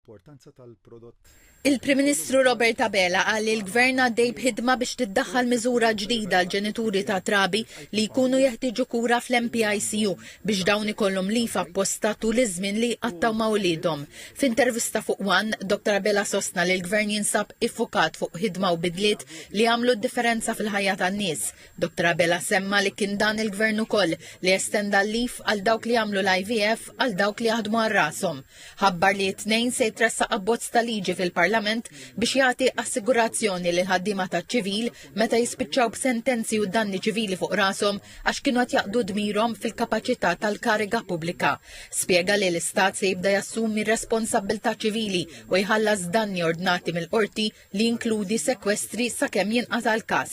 l-importanza tal-prodott Il-Prim Ministru Robert Abela qal li l-Gvern għaddej b'ħidma biex tiddaħħal miżura ġdida għal ġenituri ta' trabi li jkunu jeħtieġu kura fl-NPICU biex dawn ikollhom leave apposta tul iż-żmien li jqattgħu ma' uliedhom. F'intervista fuq one, Dottor Abela sostna li l-Gvern jinsab iffukat fuq ħidma u bidliet li jagħmlu d-differenza fil-ħajja tan-nies. Dottor Abela semma li kien dan il-Gvern ukoll li estenda l-leave għal dawk li jagħmlu l-IVF għal dawk li jaħdmu għal rashom. ħabbar li t-Tnejn se jitressaq abbozz ta' liġi fil-Parlament biex jagħti assigurazzjoni lil ħaddiema taċ-ċivil meta jispiċċaw b'sentenzi u danni ċivili fuq rashom għax kienu qed jaqdu dmirhom fil-kapaċità tal-kariga pubblika. Spjega li l-Istat se jibda jassumi r-responsabbiltà ċivili u jħallas danni ordnati mill-qorti li jinkludi sekwestri sakemm jinqata' l-każ.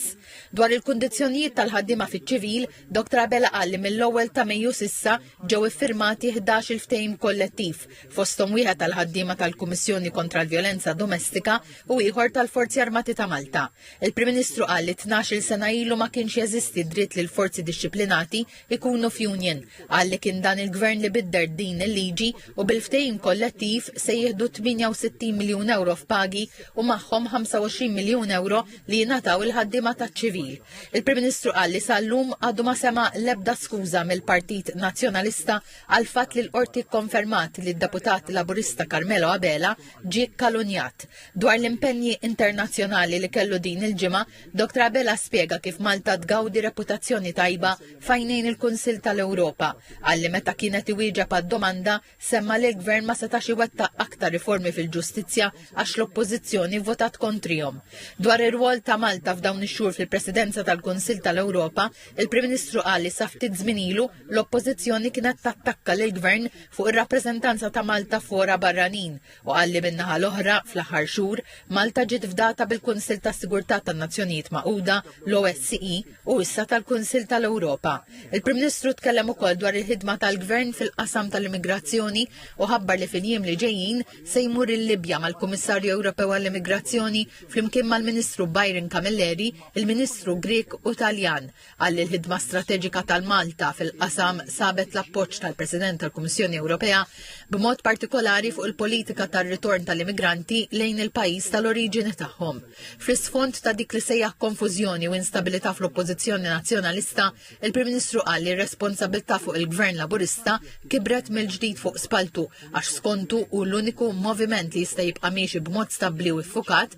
Dwar il-kundizzjonijiet tal-ħaddiema fiċ-ċivil, Dr Abela qal li mill-ewwel ta' Mejju s'issa ġew iffirmati ħdax-il ftehim kollettiv, fosthom wieħed għall-ħaddiema tal-Kummissjoni kontra l-Vjolenza Domestika u ieħor tal-Forzi Armati ta' Malta. Il-Prim Ministru qal li tnax-il sena ilu ma kienx jeżisti dritt li l-forzi dixxiplinati ikunu f'union, qal li kien dan il-Gvern li bidder din il-liġi u bil-ftehim kollettiv se jieħdu 68 miljun ewro f'pagi u magħhom 25 miljun ewro li jingħataw il-ħaddiema taċ-ċivil. Il-Prim Ministru qal li sal-lum għadu ma sema' l-ebda skuża mill-Partit Nazzjonalista għall-fatt li l-Qorti kkonfermat li d-Deputat Laburista Carmelo Abela ġie kkalunjat. Dwar l-impenji internazzjonali li kellu din il-ġimgħa, Dottor Abela spjega kif Malta tgawdi reputazzjoni tajba f'għajnejn il-Kunsill tal-Ewropa, qal li meta kien qed iwieġeb għad-domanda semma li l-Gvern ma setax iwettaq aktar riformi fil-ġustizzja għax l-Oppożizzjoni vvotat kontrihom. Dwar ir-rwol ta' Malta f'dawn ix-xhur fil-Presidenza tal-Kunsill tal-Ewropa, il-Prim Ministru qal li sa ftit żmien ilu l-Oppożizzjoni kienet tattakka lill-Gvern fuq ir-rappreżentanza ta' Malta f'fora barranin, u qal li min-naħa l-oħra, fl-aħħar xhur, Malta ġiet fdata bil-Kunsill tas-Sigurtà tan-Nazzjonijiet Magħquda, l-OSCE, u issa tal-Kunsill tal-Ewropa. Il-Prim Ministru tkellem ukoll dwar il-ħidma tal-Gvern fil-qasam tal-immigrazzjoni u ħabbar li fil-jiem li ġejjin se jmur il-Libja mal-Kummissarju Ewropew għall-Immigrazzjoni flimkien mal-Ministru Byron Camilleri, il-Ministru Grieg u Taljan, Qal li l-ħidma strateġika tal-Malta fil-qasam sabet l-appoġġ tal-President tal-Kummissjoni Ewropea b'mod partikolari fuq il-politika tar-ritorn tal-immigranti lejn il-pajjiż tal-oriġini tagħhom. Fl-isfond ta' dik li sejjaħ konfużjoni u instabilità fl-Oppożizzjoni Nazzjonalista, il-Prim Ministru qal li r-responsabilità fuq il-Gvern Laburista kibret mill-ġdid fuq spalltu għax skontu hu l-uniku moviment li jista' jibqa' miexi b'mod stabbli u ffukat